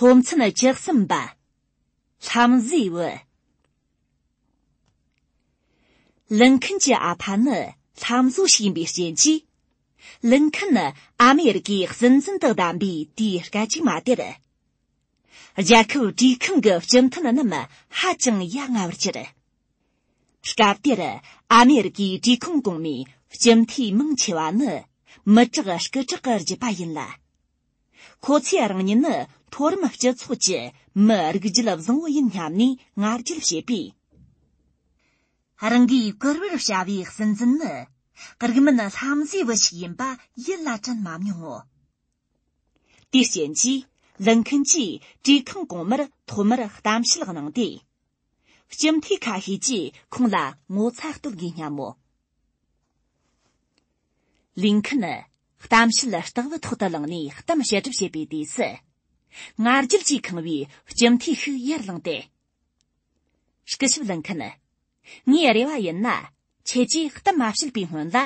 སློབ་ཚན་བཅུ་གསུམ་པ། ལྷམ་བཟོའི་བུ། ལི་མཁིན་གྱི་ཨ་ཕ་ནི་ལྷམ་བཟོ་ཞིག་ཡིན་པའི་རྐྱེན་གྱིས། ལི་མཁིན་ནི་ཨ་མེ་རི་ཀའི་སྲིད་འཛིན་དུ་བདམས་པའི་དུས་སྐད་ཅིག་མ་དེར། རྒྱལ་ཁབ་གྲོས་ཁང་གི་སྤྱི་མཐུན་རྣམས་ཧ་ཅང་ཡ་ང་བར་གྱུར། སྐབས་དེར་ཨ་མེ་རི་ཀའི་གྲོས་ཁང་གོང་མའི་སྤྱི་འཐུས་མང་ཆེ་བ་ནི་མི་དྲག་སྐུ་དྲག་གི་རྒྱུད་པ་ཡིན་ལ། ཁོ་ཚོས་རང་ཉིད་ནི་མཐོ་རིམ་སྤྱི་ཚོགས་ཀྱི་མི་རིགས་རྒྱུད་བཟང་བོ་ཡིན་སྙམ་ནས་ང་རྒྱལ་བྱེད་པས། རང་གིས་བཀུར་འོས་བྱ་བའི་སྲིད་འཛིན་ནི་རིགས་མིན་ལྷ་མཛེས་པོ་ཞིག་ཡིན་པ་ཡིད་ལ་དྲན་མ་མྱོང་ངོ། དེའི་རྐྱེན་གྱིས་ལི་མཁན་གྱིས་གྲོས་ཁང་གོང་མར་ཐོག་མར་གཏམ་བཤད་གནང་སྟེ། ལྕམ་ཐི་ཁ་ཧི་ཅིས་ཁོང་ལ་ངོ་ཚ་གཏོད་དགོས་སྙམ་མོ། ལིན་ཁན། གཏམ་བཤད་སྟེགས་བུ་ཐོག་ཏུ་ལངས་ནས་གཏམ་བཤད་སྒྲུབ་བྱེད་པའི་དུས་སུ། ང་རྒྱལ་གྱིས་ཁེངས་པའི་ལྕམ་ཐི་ཤིག་ཡར་ལངས་ཏེ། སྐུ་ཞབས་ལིན་ཁན། ངའི་རེ་བ་ཡིན་ན། ཁྱེད་ཀྱིས་གཏམ་མ་བཤད་པའི་སྔོན་ལ།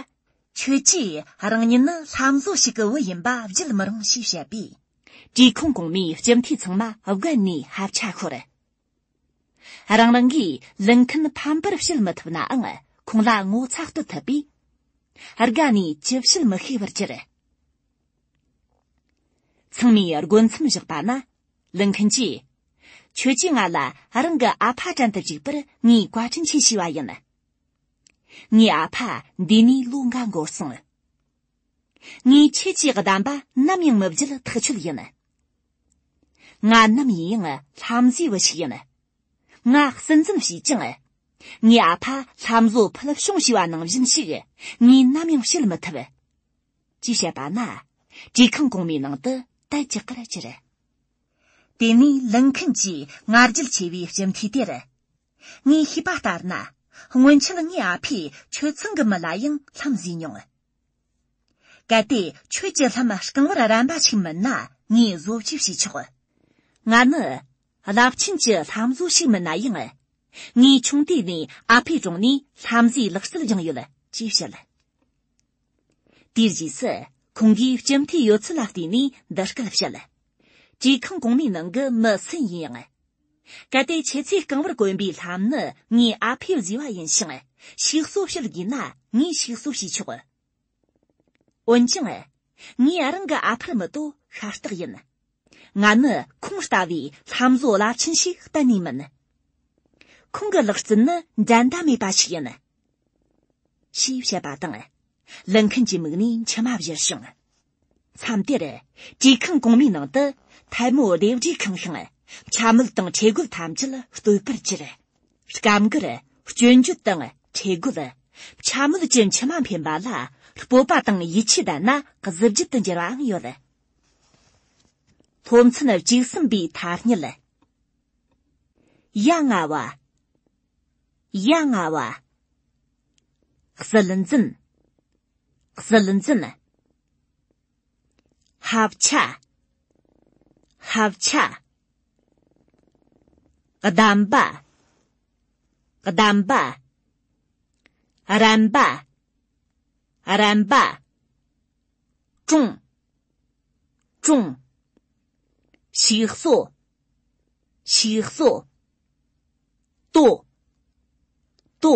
ཁྱེད་ཀྱིས་རང་ཉིད་ནི་ལྷ་མཛོད་ཞིག་གི་བུ་ཡིན་པ་བརྗོད་མི་རུང་ཞེས་བཤད་པས། གྲོས་ཁང་གོང་མའི་ལྕམ་ཐི་ཚང་མ་དགོད་ནས་ཧབ་ཆ་ཤོར། རང་རང་གིས་ལུང་མཁན་ཕམ་པར་བཤད་མི་ཐུབ་ནའང་ཁོང་ལ་ངོ་ཚ་བསྟོད་ཐུབ་པས། དགའ་ནས་ཅི་བཤད་མི་ཤེས་པར་གྱུར། ཚང་མས་རྒོལ་མཚམས་བཞག་པ་ན། ལུང་མཁན་གྱིས། ཁྱོད་ཀྱིས་ང་ལ་རང་གི་ཨ་ཕ་དྲན་དུ་བཅུག་པར་ངའི་བཀའ་དྲིན་ཆེ་ཞུས་པ་ཡིན། ངའི་ཨ་ཕ་འདས་ནས་ལོ་འགའ་འགོར་སོང། ངའི་ཁྱེད་ཀྱི་གདམས་པ་ནམ་ཡང་མི་བརྒྱུད་ཐག་ཆོད་ཡིན། ང་ནམ་ཡིན་ཡང་ལྷ་མཛེས་བུ་ཞིག་ཡིན། ང་སྲིད་འཛིན་བྱས་ཀྱང། ངའི་ཨ་ཕ་ལྷ་མཛོ་ཕུལ་བྱུང་བྱས་པ་ནང་བཞིན་ཞིག་ངས་ནམ་ཡང་བྱེད་མི་ཐུབ། ཅེས་བཤད་པ་ན། གྲོས་ཁང་གོང་མའི་ནང་དུ་དལ་གྱི་ཁར་གྱུར། དེ་ནས་ལིན་ཁིན་གྱིས་ང་རྒྱལ་ཆེ་བའི་སྤྱི་འཐུས་དེར། ངས་ཤེས་པ་ལྟར་ན། སྔོན་ཆད་ངའི་ཨ་ཕས་ཆོས་ཚང་གི་མི་ལ་ཡང་ལྷ་མཛེས་མྱོང། གལ་ཏེ་ཁྱོད་ཀྱི་ལྷམ་རྐང་བར་རན་པ་ཞིག་མིན་ན་ངས་བཟོ་བཅོས་བྱས་ཆོག་ང་ནི་རླབས་ཆེན་གྱི་ལྷམ་བཟོ་ཞིག་མིན་ན་ཡང། ངའི་ཆུང་དུས་ནས་ཨ་ཕའི་དྲུང་ནས་ལྷམ་བཟོའི་ལག་རྩལ་སྦྱངས་ཡོད་ཅེས་བཤད། དེའི་རྗེས་སུ་ཁོང་གིས་སྤྱི་འཐུས་ཡོད་ཚད་ལ་བལྟས་ནས་འདི་སྐད་བཤད། གྲོས་ཁང་གོང་མའི་ནང་གི་མི་སུ་ཡིན་ཡང། གལ་ཏེ་ཁྱེད་ཚོས་རྐང་བར་གོན་པའི་ལྷམ་ནི་ངའི་ཨ་ཕས་བཟོས་པ་ཡིན་ཞིང་ཞིག་གསོ་བྱེད་དགོས་ན་ངས་ཞིག་གསོ་བྱེད་ཆོག། འོན་ཀྱང། ངས་རང་གི་ཨ་ཕར་མི་ལྟོ་ཤ་སྟག་ཡིན། ང་ནི་ཁོང་ལྟ་བུའི་ལྷམ་བཟོ་རླབས་ཆེན་ཞིག་གཏན་ནས་མིན། ཁོང་གི་ལག་རྩལ་ནི་འགྲན་ཟླ་མེད་པ་ཞིག་ཡིན། ཞེས་བཤད་པ་དང། ལིན་ཁན་གྱི་མིག་ནས་མཆི་མ་བཞུར་བྱུང། མཚམས་དེར། གྲོས་ཁང་གོང་མའི་ནང་དུ་ཐལ་མོ་ལྡེབས་བྲིས་ཁང་ཤིང། ཕྱ་མིག་དང་ཁྲེ་རྒོད་ཐམས་ཅད་བསྟོད་པར་གྱུར། སྐབས་འགར། སྐྱོན་བརྗོད་དང་ཁྲེ་རྒོད། ཕྱ་མིག་གྱི་མཆི་མ་འཕེན་པ་ལ་སྤོབས་པ་དང་ཡིད་ཆེས་ལྡན་ན་གཟི་བརྗིད་དུ་འགྱུར་བའང་ཡོད། སློབ་ཚན་གཅིག་གསུམ་པའི་ཐ་སྙད། གཡག་རྔ་བ། གཡག་རྔ་བ། གསུལ་འཛིན། ཟིལ་འཛིན། ཧབ་ཆ། ཧབ་ཆ། བསྡམས་པ། བསྡམས་པ། རན་པ། རན་པ། ཀྲུང། ཀྲུང། ཞིག་གསོ། ཞིག་གསོ། ཏོ། ཏོ།